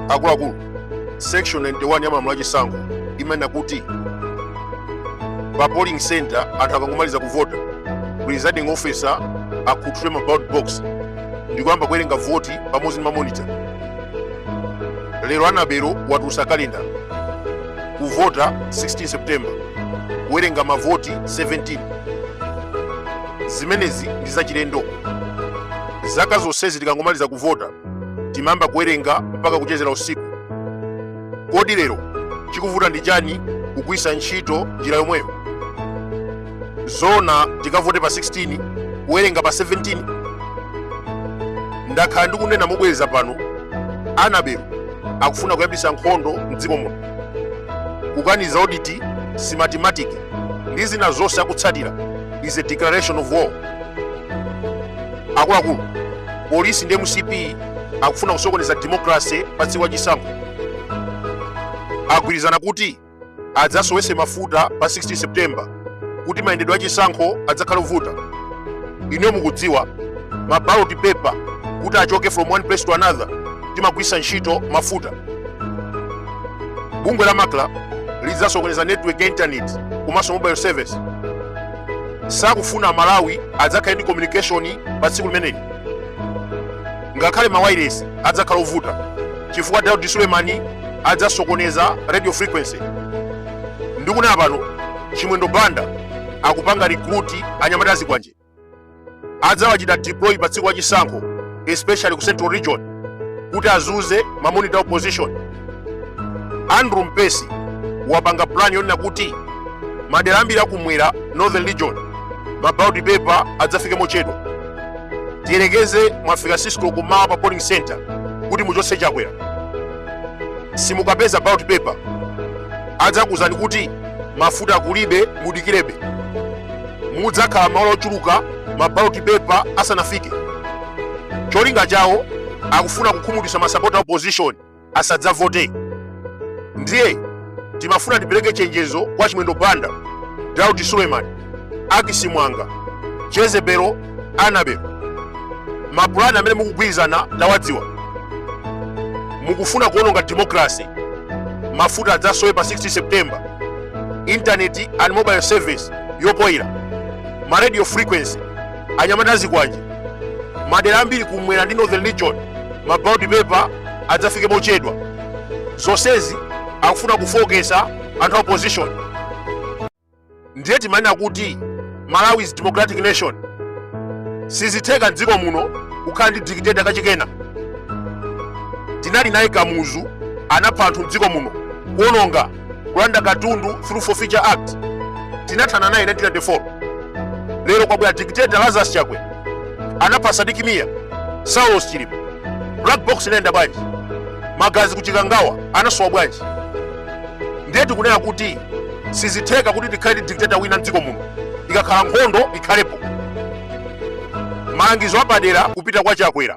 akuluakulu section 91 ya malamulo a chisankho imanena kuti pa polling center anthu akangomaliza kuvota presiding officer akhuthule ma ballot box ndikuyamba kuwerenga voti pamodzi ndi mamonitor lero anabelo watulutsa kalenda kuvota 16 september kuwerenga mavoti 17 zimenezi ndi zachilendo Zaka zonsezi tikangomaliza kuvota timayamba kuwerenga mpaka kuchezera usiku. Kodi lero chikuvuta ndi chani kugwiritsa ntchito njira yomweyo? Zoona tikavote pa 16 kuwerenga pa 17? Ndakhala ndikunena mobwereza pano, Anabel akufuna kuyambitsa nkhondo mdziko muno. Kukaniza audit, Smartmatic ndi zina zonse akutsatira is a declaration of war. akuluakulu polisi ndi mcp akufuna kusokoneza demokrase pa tsiku la chisankho agwirizana kuti adzasowetse mafuta pa 16 september kuti mayendedwe a chisankho adzakhale ovuta inuyo mukudziwa ma ballot paper kuti achoke from one place to another timagwiritsa ntchito mafuta bungwe la macra lidzasokoneza network ya intaneti komanso mobile service sakufuna malawi adzakhale ndi communication pa tsiku limeneli ngakhale mawairesi adzakhala ovuta chifukwa daudi sulemani adzasokoneza radio frequency ndikunena pano chimwendo banda akupanga recruit anyamata azikwanje adzawachita deploy pa tsiku la chisankho especially ku central region kuti azunze ma monitor a opposition andrew mpesi wapanga plan yonena kuti madera ambiri akumwera northern region ma ballot paper adzafike mochedwa tiyerekeze mwafika 6 koloko mmawa pa polling center kuti muchotse chakwera simukapeza ballot paper adzakuuzani kuti mafuta kulibe mudikirebe mudzakhala maola ochuluka ma ballot paper asanafike cholinga chawo akufuna kukhumudwitsa masapota a opposition asadzavote ndiye timafuna tipereke chenjezo kwa chimwendo banda daudi sulemani ackis muwanga jezebelo anabel mapulani amene mukugwirizana tawadziwa mukufuna kuononga demokrasi mafuta adzasowe pa 16 september intaneti and mobile service yopoyira ma radio frequency anyamata azikwanje madera ambiri kumwera ndi northern region ma ballot paper adzafike mochedwa zonsezi akufuna kufoketsa anthu a opposition ndiye timanena kuti malawi is democratic nation sizitheka mdziko muno kukhala ndi dictator kachikena tinali naye kamuzu anapha anthu mdziko muno kuononga kulanda katundu through forfeiture act tinathana naye 1994 lero kwabwera dictator lazarus chakwera anapha sidik mia saulos chilima black box inayenda bwanji magazi kuchikangawa anasowa bwanji ndiye tikunena kuti sizitheka kuti tikhale ndi dictator wina mdziko muno ikakhala nkhondo ikhalepo malangizo apadera kupita kwa chakwera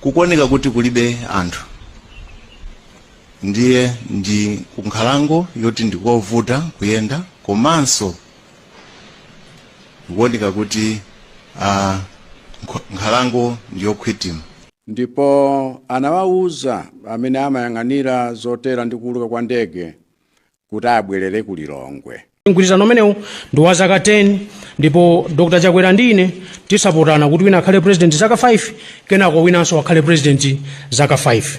kukuoneka kuti kulibe anthu ndiye ndi kunkhalango yoti ndikovuta kuyenda komanso kukuoneka kuti ah, nkho- nkhalango ndiyokhwitima ndipo anawawuza amene amayang'anira zotera ndi kuwuluka kwa ndege kuti abwerere ku Lilongwe. Mgwirizano umenewu ndi wa zaka 10 ndipo Dr Chakwera ndi ine tisapotane kuti wina akhale president zaka 5 kenako winanso akhale president zaka 5.